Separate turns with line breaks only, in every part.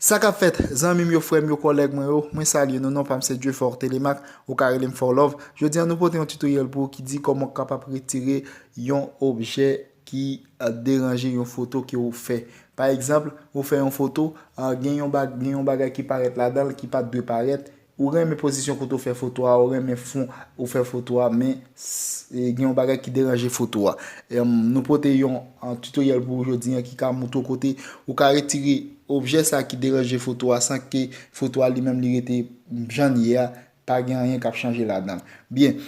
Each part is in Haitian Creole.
Sa kap fèt zanmim yo frèm yo kòlèg mwen yo mwen salye nou non pam se Dieufort Thélémaque ou ka relem Forlove jodi an nou pote yon tutoriel pou ou ki di kòman ou kapab retire yon objè ki ap deranje yon foto ke ou fè. Pa egzanpl, ou fè yon foto, gen yon bagay ki parèt ladan l ki pa t dwe parèt, ou renmen pozisyon kote ou fè foto a, ou renmen fon ou fè foto a, men gen yon bagay ki deranje foto a. Nou pote yon tutoriel pou ou jodi an ki ka moutre ou kote ou ka retire objè sa ki deranje foto a san ke foto a li menm li rete jan l ye a, pa gen anyen k ap chanje ladan l. Byen,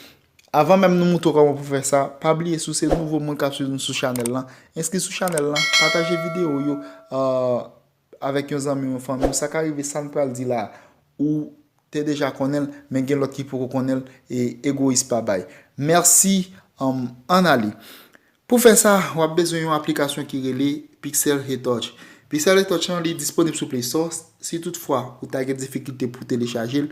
Avan menm nou moutre w kòman pou fè sa, pa bliye si w se nouvo moun kap swiv nou sou chanèl lan, enskri sou chanèl lan, pataje videyo yo avèk yon zanmi w, yon fanmi w, sa ka rive sa n pral di la ou te deja konnen l men gen lòt ki poko konnen l e egoyis pa bay. Mèsi ann ale. Pou fè sa, w ap bezwen yon aplikasyon ki rele Pixel Retouch. Pixel Retouch lan li disponib sou Play Store, si tout fwa ou ta gen difikilte pou telechaje l,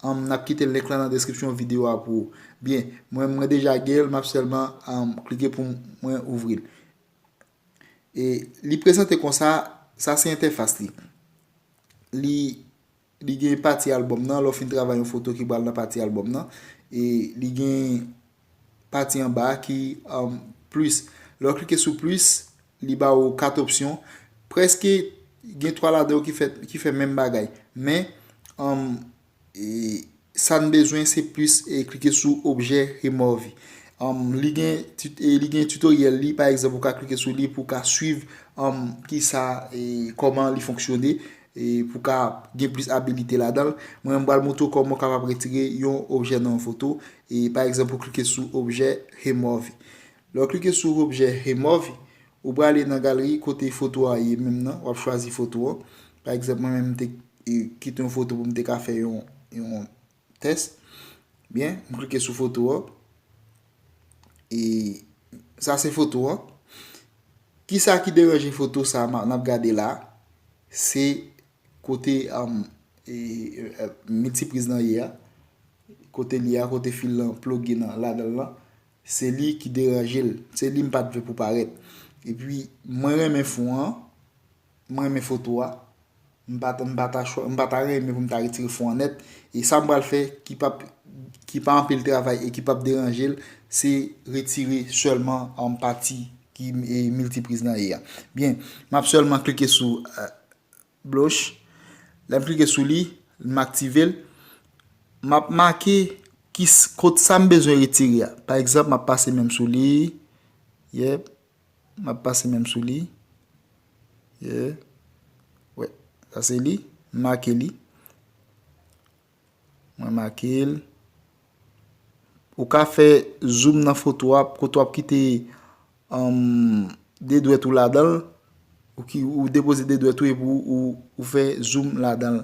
n ap kite link lan nan deskripsyon videyo a pou ou. Byen, mwen mwen deja gen l, m ap sèlman klike pou mwen ouvri l. E li prezante konsa, sa se entèfas li. Li. Li gen pati albòm nan, lè w fin travay yon foto ki pral nan pati albòm nan. E li gen pati anba a ki plis. Lè w klike sou plis, li ba ou 4 opsyon. Prèske gen 3 ladan yo ki fè menm bagay. Men, Sa n bezwen se plis klike sou objè Remove. Li gen tutoriel li, pa egzanp ou ka klike sou li pou w ka swiv kisa, kòman li fonksyone pou w ka gen plis abilite ladan l. Mwen m pral montre w kòman ou kapab retire yon objè nan yon foto. Pa egzanp ou klike sou objè Remove. Lè w klike sou objè Remove, Ou prale nan galri kote foto a ye menm nan, wap chwazi foto an. Pa egzanp mwen menm m te kite yon foto pou m te ka fè yon tès. Byen, m klike sou foto an. E sa se foto an. Kisa ki deranje foto sa m ap gade la? Se kote miltipriz nan ye a. Kote li a, kote fil lan ploge nan ladan lan. Se li ki deranje l. Se li m pat vle pou parèt. Epi mwen renmen fon an. M renmen foto a. M pa ta m pa ta chwa m pa ta renmen pou m ta retire fon an nèt. E sa m pral fè ki pap ki pa anpil travay e ki pap deranje l se retire sèlman pati ki miltipriz nan e a. Byen, m ap sèlman klike sou blush lè m klike sou li m aktive l m ap make kot sa m bezwen retire a pa egzanp m ap pase men m sou li yep m ap pase men m sou li ye wè sa se li m make li Mwen make l. Ou ka fè zoom nan foto a, kote wap kite 2 dwèt ou ladan l, ou depoze 2 dwèt ou epi ou fè zoom ladan l.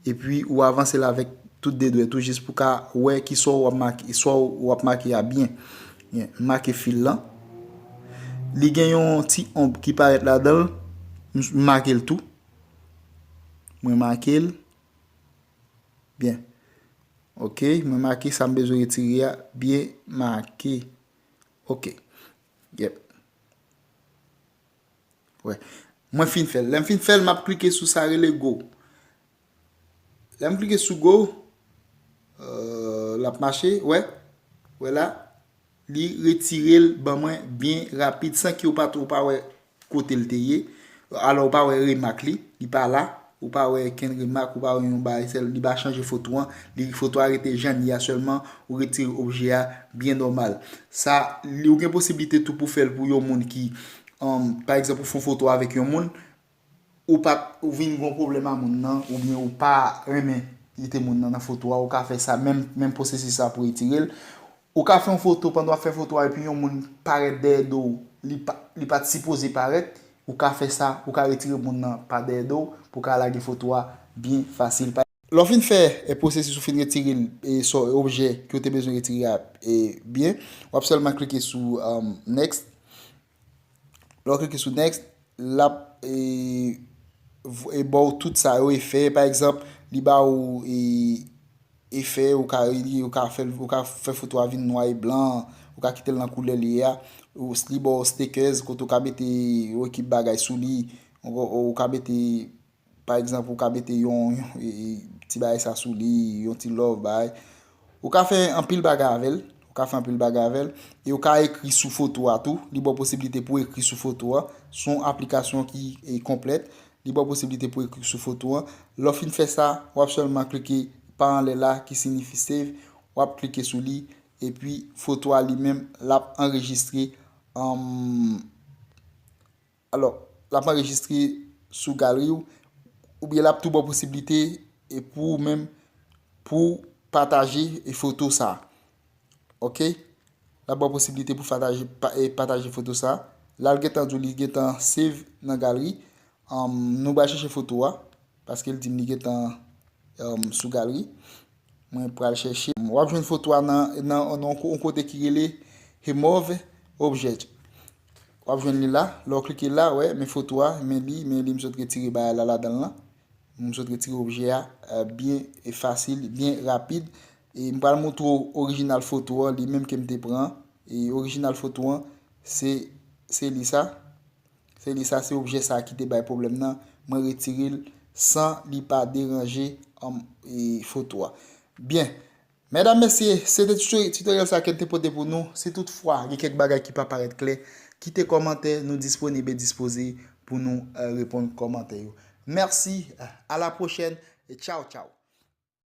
Epi ou avanse l avèk tout 2 dwèt ou jis pou ka wè ki sa ou ap make a byen. M make fil lan. Li gen yon ti omb ki parèt ladan l, m make l tou. Mwen make l, Byen. Ok, mwen make sa m bezwen retire a. Byen make. Ok. Yep. Wè. Mwen fin fè l. Lè m fin fè l, m ap klike sou sa rele go. Lè m klike sou go, l ap mache. Wè. Wè la. Li retire l ban mwen byen rapid san ke ou pa ou pa wè kote l te ye. Alò ou pa wè remak li, li pa la. Ou pa wè kenn remak, ou pa wè yon bagay sèl. Li pa chanje foto an. Li foto a rete jan li a sèlman. Ou retire objè a byen nòmal. Sa, li ou gen posiblite tou pou fè l pou yon moun ki, pa egzanp ou fon foto avèk yon moun, Ou pa vin gon pwoblèm a moun nan oubyen ou pa renmen kite moun nan nan foto a ou ka fè sa menm menm pwosesis sa pou retire l. Ou ka fè yon foto pandan wap fè foto a epi yon moun parèt dèyè do w li pat sipoze parèt ou ka fè sa ou ka retire moun nan pa dèyè do w pou w ka lage foto a byen fasil. Lè w fin fè pwosesis ou fin retire l objè ke w te bezwen retire a byen wap sèlman klike sou next. Lè w klike sou next, l ap ba w tout sa yo efè. Pa egzanp, li ba w efè, ou ka li, ou ka fè l, ou ka fè foto a vin nwa e blan, ou ka kite l nan koulè li ye a. Li ba w stickers kote ou ka mete yon ekip bagay sou li, ou ka mete. Pa egzanp ou ka mete yon ti bagay sa sou li, yon ti love bay. Ou ka fè anpil bagay avè l, ou ka fè anpil bagay avè l. E ou ka ekri sou foto a tou, li ba w posibilite pou ekri sou foto a. Se yon aplikasyon ki konplèt, li ba w posibilite pou ekri sou foto a. Lè w fin fè sa, w ap sèlman klike pa anlè la ki sinifi save, w ap klike sou li, epi foto a li menm l ap anrejistre. Alò, l ap anrejistre sou galri w, oubyen l ap tou ba w posiblite pou ou menm pou w pataje foto sa. Ok, l ap ba w posiblite pou w pataje foto sa. La l gentan di w li gentan save nan galri. Nou bal chèche foto a, paske l di m li gentan sou galri. Mwen pral chèche. Wap jwenn foto a nan yon kote ki rele Remove Object. Wap jwenn li la. Lè w klike la, wè, men foto a, men li, men li m sot retire bagay la ladan l lan. M sot retire objè a byen fasil, byen rapid. E m pral moutre w orijinal foto an, li menm ke m te pran. E orijinal foto an, se li sa. Se li sa se objè sa ki te bay pwoblèm nan mwen retire l san li pa deranje foto a. Byen Medam mesye se te tutoriel sa kem te pote pou nou si tout fwa gen kèk bagay ki pa parèt klè kite kòmantè nou disponib e dispoze pou nou reponn kòmantè yo. Mèsi a la pwochèn e tchaw tchaw.